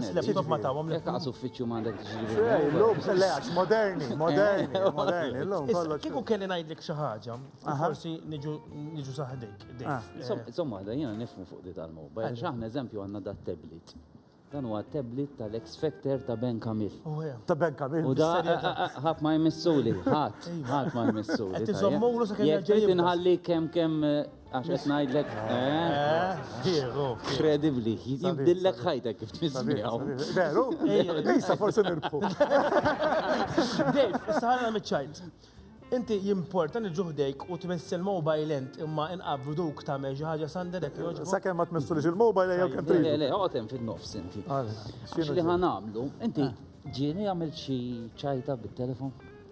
L-laptop ma tawhom li taqas uffiċċju ma għandek tiġi. Le għax moderni, moderni, moderni. Llum kollox. Kieku kelli ngħidlek xi ħaġa, forsi niġu saħdik. Insomma, da jiena nifhmu fuq di tal-mobile. X'aħna eżempju għandna da tablet. Dan huwa tablet tal-ex factor ta' Ben Kamil. Ta' Ben Kamil. U da ħadd ma jmissuli, ħadd, ħadd ma jmissuli. Tiżommulu sa kemm ġejjin. Inħalli kemm kemm Għax qed ngħidlek, Diego. Kredibbli, jibdillek ħajtek kif tismijaw. Veru? Ejsa forsi nirbħu. Dave, saħna miċ-ċajt. Inti jimporta li ġuħdejk u tmess il-mobile ent imma inqabru duk ta' xi ħaġa sanderek joġbu. Sakemm ma tmessu li il-mobile jew kemm trid. Le, le, għotem fin-nofs inti. Xi li ħanamlu, inti ġieni għamil xi ċajta bit-telefon?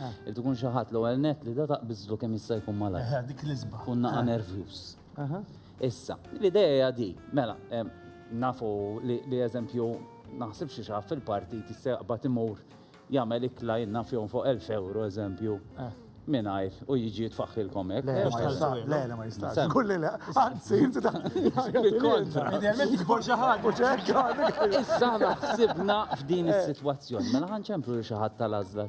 Eh. Irid ikun xi ħadd l-ewwel net li da taqbiżlu kemm jista' jkun malaj. Eh, dik l-isba. Kun naqa' eh. nervjuż. Issa, l-idea di, mela, nafu li eżempju naħsib xi xaf fil-partit jista' jaqbad imur jagħmel ikla jenna fjom fuq 1000 euro eżempju. Minajr, u jiġi jitfaxilkom ek. Le, le, ma jistax. Kulli le, għanzi, jinti ta' kontra. Idealment jikbor xaħat. Issa ħsibna f'din is-situazzjoni, mela ħanċemplu li xaħat tal-azla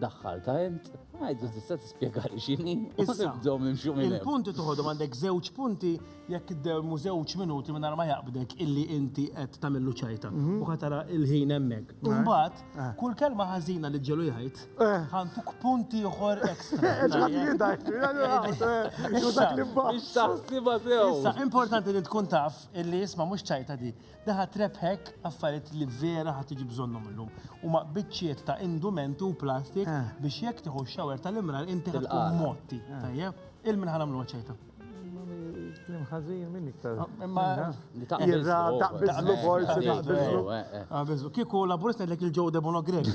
Daħħal ta' int, għajdu tista' tispjegali x'inhi. Issa bdom imxu minn. Il-punti toħodhom għandek żewġ punti jekk iddermu żewġ minuti minn ma jaqbdek illi inti qed tagħmillu ċajta mhm. u ħatara il-ħin hemmhekk. Eh. Imbagħad eh. kull kelma ħażina li ġelu jgħid eh. ħantuk punti oħor ekstra. Issa importanti li tkun taf illi isma' mhux ċajta di. Daħat rebħek affarijiet li vera ħa tiġi bżonnhom illum. U ma biċċiet ta' indument u plastik eh. biex jekk tieħu x-xawer tal-imrar inti tkun motti. Eh. Tajjeb, il-min ħanamlu ċajta. Klim ħażin minn iktar. Ah, imma jirra taqbizlu forsi taqbizlu. Kieku laburist ngħidlek il-ġew demonografi.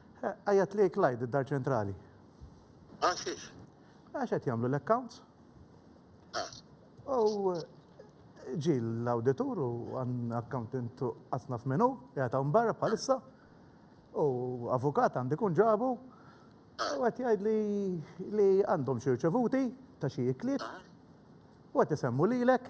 Għajjat li Clyde id-dar ċentrali. Għal xiex? Għax qed jagħmlu l-accounts. Ah. U ġi l-auditur u għan accountant għatna f'menu, jgħata barra bħalissa, u avukat għandi kun ġabu, ah. u għet jgħid li għandhom xirċevuti ta' xie ikliet, ah. u għet jisemmu li l-ek,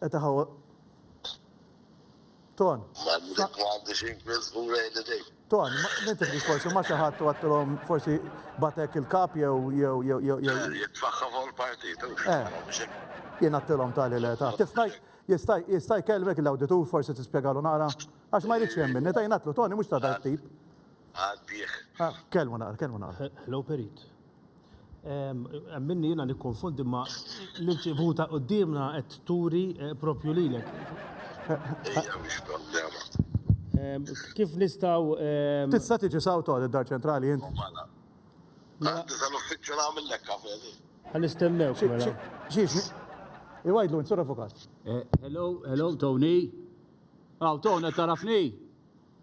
Qed iħawwad Ton. M'għandek m'għandix inkisbu lejn idejk. Ton, min tifdix forsi ma' xi ħadd u għedtilhom forsi bagħtek il-kap jew jew jew jew jew. Le, jitfaħħa fuq il-partit u Eh. mhux hekk. Jien għedtilhom tali le ta. Tista' jista' jista' jkellmek l-awditur forsi tispjegalu naqra? Għax ma jridx jemminni, ta jien għedtlu Toni mhux ta' dak it-tip. Għaddih. Kellmu naqra, kellmu naqra. Hello Perit. Minni jina nikkonfondi ma l-irċivuta qoddimna qed turi eh, propju lilek. Kif nistaw. Tista' tiġi sawt għad id-dar ċentrali int? Mela. Mela. Tista' l-uffiċċju nagħmillek kafe li. Għan nistennew. Mela. Ġiex, iwajdlu nsur avukat. Eh, hello, hello, Tony. Aw, Tony, tarafni?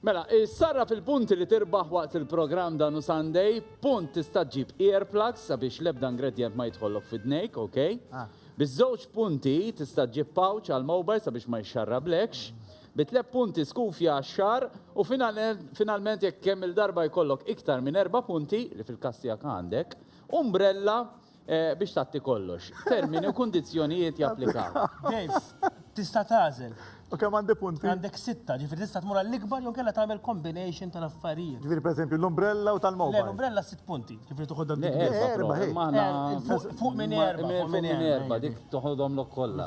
Mela, issarraf il-punti li tirbaħ waqt il-programm dan u Sunday, punt tista' ġġib earplugs sabiex l-ebda ingredjent ma jidħollok f'idnejk, ok? Bi żewġ punti tista' ġġib pouch għall-mobile sabiex ma jixxarrablekx, bi tliet punti skufja għax-xagħar u finalment jekk kemm-il darba jkollok iktar minn erba' punti, li fil-każ tiegħek għandek, umbrella Biex tatti kollox, termini u kundizzjonijiet japplikaw. Dave, tista' tagħżel. U kemm għandi punti? Għandek sitta, ġifieri tista' tmur għall-ikbar jew kellha tagħmel combination tal-affarijiet. Ġifieri pereżempju l-umbrella u tal-mobile. Le, l-umbrella sitt punti, ġifieri toħodha dik. Erba' ħej. Fuq minn erba'. Fuq minn erba' dik toħodhom lok kollha.